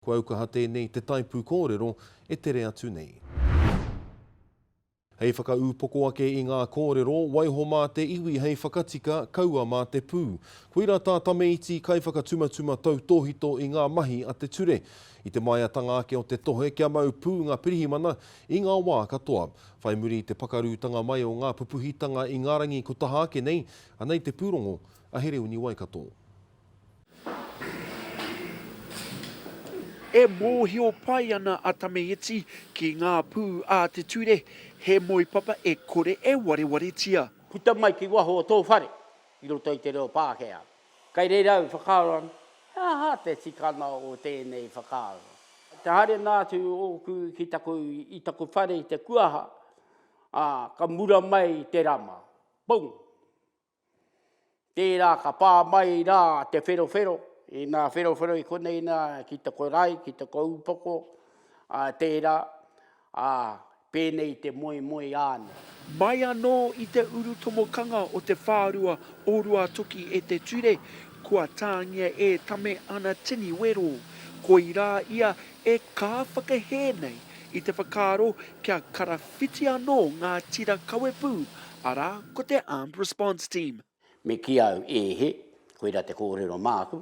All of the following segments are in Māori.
Kua aukaha tēnei i te taipū kōrero e tere atu nei. Hei whakaūpoko ake i ngā kōrero, waiho mā te iwi hei whakatika, kaua mā te pū. Koirā tā Tame Iti kaiwhakatumatuma tautōhito i ngā mahi a te ture. I te māiatanga ake o te tohe kia mau pū ngā pirihimana i ngā wā katoa. Whai muri i te pakarūtanga mai o ngā pupuhitanga i ngā rangi ko taha ake nei, anei te pūrongo a Hereuni Waikato. E mōhio pai ana a Tamaiti ki ngā pū a te ture, he moe papa e kore e warewaretia. Puta mai ki waho o tō whare i roto i te reo Pākehā. Kei reira au whakaaro ana, he aha te tikanga o tēnei whakaaro? Te haere noa atu ōku ki taku, i taku whare i te kuaha, ā, ka mura mai te rama. Pong! Tērā ka pā mai rā te wherowhero, inā wherowhero i konei nā ki te korae, ki te koupoko, ā, tērā, ā, pēnei te moemoe āna. Mai anō i te urutomokanga o te whārua o Ruatoki e te ture, kua tāngia e Tame ana tini wero. Koirā ia E kā whakahē nei i te whakaaro kia karawhiti anō ngā tira kawepū, arā, ko te Armed Response Team. Me kī au, E he, koirā te kōrero māku,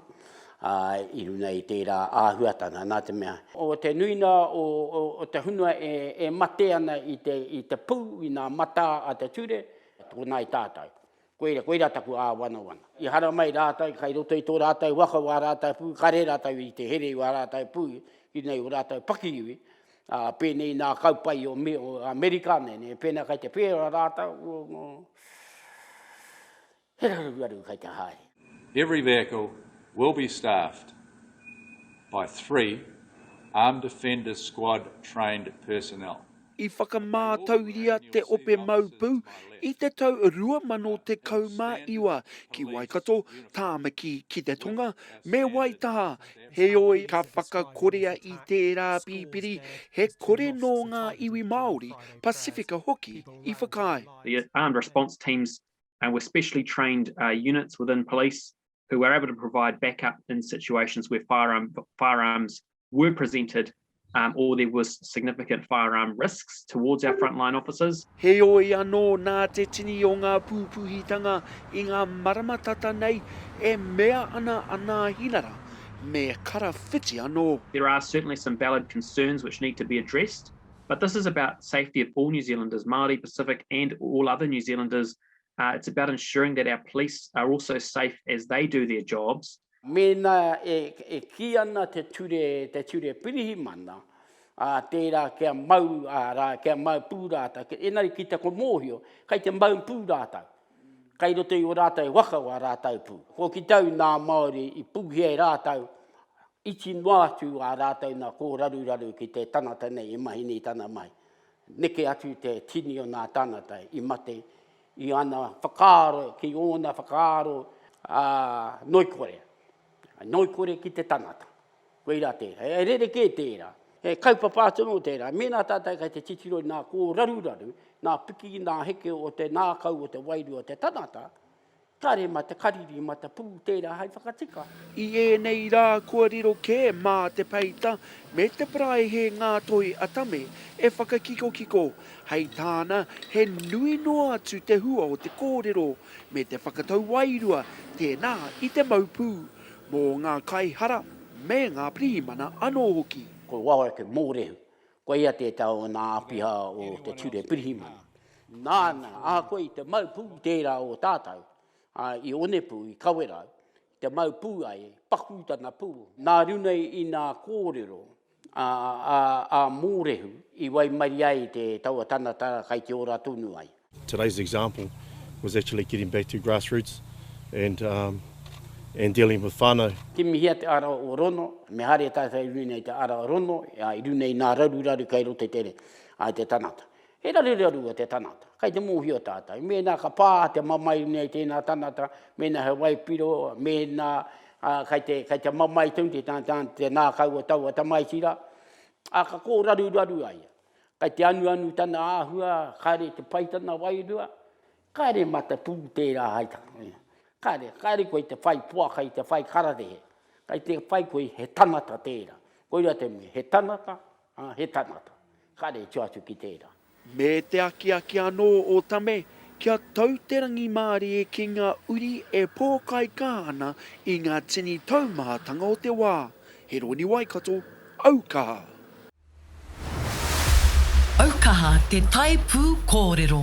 ā, i runga i tērā āhuatanga, nā te mea, o te nuinga o te hunua e mate ana i te pū, i ngā matā a te ture, tōnā i tātou. Koira, koira taku āwanawana. I haramai rātou kai roto i tō rātou waka wā rātou pū, kare rātou i te here i wā rātou pū, ki nei o rātou pakiiwi, ā, pēnei nā kaupae o me, o Amerika nei, nē, pēnā kai te pērā rātou, o, he raruaru kai te haere. Every vehicle will be staffed by three Armed Offenders Squad trained personnel. I whakamātauria te Ope Mau Pū i te tau 2019 ki Waikato, Tāmaki ki te tonga, me Waitaha, heoi ka whakakorea i tērā pipiri he kore nō ngā iwi Māori, Pasifika hoki i whakaae. The armed response teams were specially trained units within police who were able to provide backup in situations where firearms were presented um, or there was significant firearm risks towards our frontline officers. Heoi anō, nā te tini o ngā pūpuhitanga i ngā marama tata nei, e mea ana anā hinara, me karawhiti anō. There are certainly some valid concerns which need to be addressed, but this is about safety of all New Zealanders, Māori, Pacific and all other New Zealanders Uh, it's about ensuring that our police are also safe as they do their jobs. Mēnā e, e ki ana te ture, te ture pirihimana, a tērā kia mau, a rā, kia mau pū rātau, ki, enari ki te ko mōhio, kai te mau pū rātau. Kai roto i o rātau waka o a rātau pū. Ko ki tau nā Māori i pūhi ai rātau, iti noa atu a rātau nā kōraruraru ki te tangata nei i mahi nei tana mai. Neke atu te tini o nā tāngata i mate i ana whakaaro ki ōna whakaaro ngoikore, ngoikore ki te tangata. Koirā tērā. He rerekē tērā. He kaupapa atu anō tērā. Mēnā tātou kei te titiro i ngā kōraruraru, ngā piki, ngā heke o te ngākau, o te wairua o te tangata, Tare ma te kariri ma te pū tērā hai whakatika. I ēnei rā kua riro kē mā te peita me te parae he ngā toi a Tame e whakakikokiko, hei tāna he nui noa atu te hua o te kōrero me te whakatau wairua tēnā i te mau pū, mō ngā kaihara me ngā pirihimana anō hoki. Ko wao ake mōrehu, Koia te tau o nā āpiha o te Ture Pirihimana. Nāna, ahakoa i te mau pū tērā o tātau, ā, i Onepū, i Kawerau, i te mau pū ai, paku tana pū. Nā runei i nā kōrero a, a, a Mōrehu i waimarie ai te taua tanatara kai te ora tonu ai. Today's example was actually getting back to grassroots and um and dealing with whanau. Kimihia te ara o Rono, me haere tātou i runga i te ara o Rono, ā, i runga i nā raruraru kei roto i te re, ā, i te tangata. He raruraru o te tangata, kei te mōhio tātou. Mēnā ka pā te mamae i runga i tēnā tangata, mēnā he waipiro, mēnā, ā, kei te, kei te mamae tonu te tangata, te ngākau o taua tamaiti rā, ā, ka kōraruraru a ia. Kai te anuanu tana āhua, kāre te pai tana wairua, kāre matapū tērā hai tangata. Kāre, kāre koe te whai poaka i te whai kararehe, kai te whai koe he tangata tērā. Koira te mea, he tangata, ā, he tangata. Kāre e tū atu ki tērā. Me te akiaki anō o Tame kia tau te rangimārie ki ngā uri e pōkaika ana i ngā tini taumahatanga o te wā. He roni Waikato, aukaha! Aukaha te tae pū kōrero.